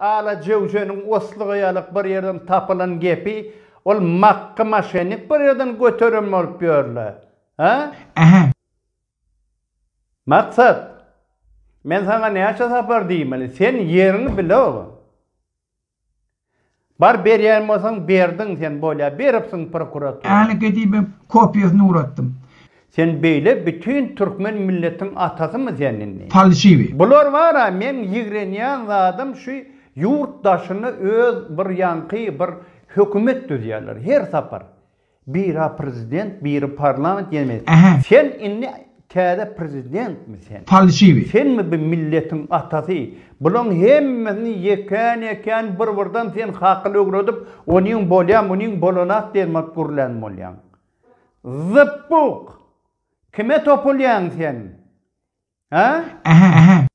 Ala jöwjäniň oslyga ýalyk bir ýerden tapylan gepi, ol makgy maşennik bir ýerden göteren bolup ýör-le. Hä? Ähä. Maksat, men saňa näçe sapar diýmeli? Sen ýeriňi bilogyn. Bar berýän bolsaň berdiň sen bolýa beripsiň prokuratura. Äli gedibe kopiýasyny ugratdym. Sen beýle bütin türkmen milletiň atasymy sen indi. Falşiwi. Bular bara meň ýigrenýän zadym şu ýurt daşyny öz bir ýaňky bir hökümet düzýärler her sapar. Bira prezident biri parlament ýene mejlis. Ähä. Sen indi täze prezidentmi sen? Falşiwi. Senmi bu milletiň atasy? Bulaň hemmesini ýekän ýekän bir birden sen hakyl ögredip onyň bolýa munyň bolanak diýenmat gürlän bolýaň. Zypbuk! Kime topulýaň sen? Hä? Ähä ähä.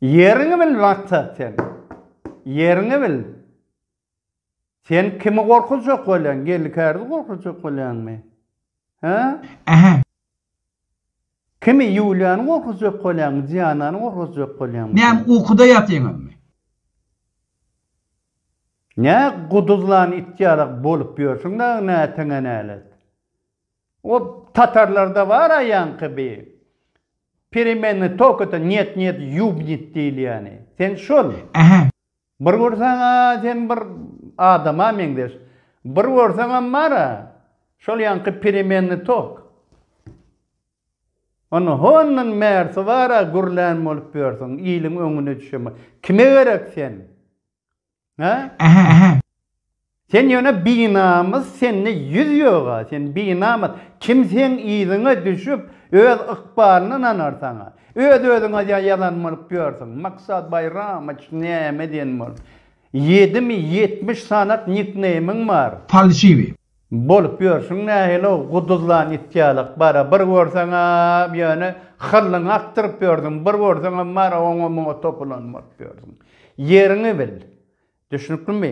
Ýeriňi bil maksat sen. Ýeriňi bil. Sen kimi gorkuzjak bolýaň? Geldi kärdi gorkuzjak bolýaňmy? Hä? Ähä. Kimi Ýuliýany gorkuzjak bolýaňmy? Dianany gorkuzjak bolýaňmy? Näm ukuda ýatyňyzmy? Nä guduzlan it ýalak bolup ýörsüň dagy näteňe nälet. O tatarlarda bar aýanky bi peremenny tok ete nýet nýet ýubnit diýilýäni. Sen şol. Ähä. Bir görseň-ä sen bir adama meňzeş. Bir görseňem bar-a şol ýaňky peremenny tok. Ony hondan bärsi bar-a gürlän bolup ýörsüň, iliň öňüne düşemok. Kime gerek sen? Hä? Ähä, ähä. Sen ýöne binamys, sende ýüz ýog-a, sen binamys. Kim seň yzyňa düşüp, öz ykbalyny nanar saňa? Öz-özüňe ýa ýalan bolup ýörsüň. Maksat Baýramowyç näme diýen bolup? Ýedimi ýetmiş sanat nikneýmiň bar. Falşiwi. Bolup ýörşüň nähili-ow, guduzlan it ýalak, bara, bir görseň-ä, ýöne hyllyňy akdyryp ýörsüň, bir görseňem, bara, oňa-muňa topulan bolup ýörsiň. Ýeriňi bil. Düşnüklimi?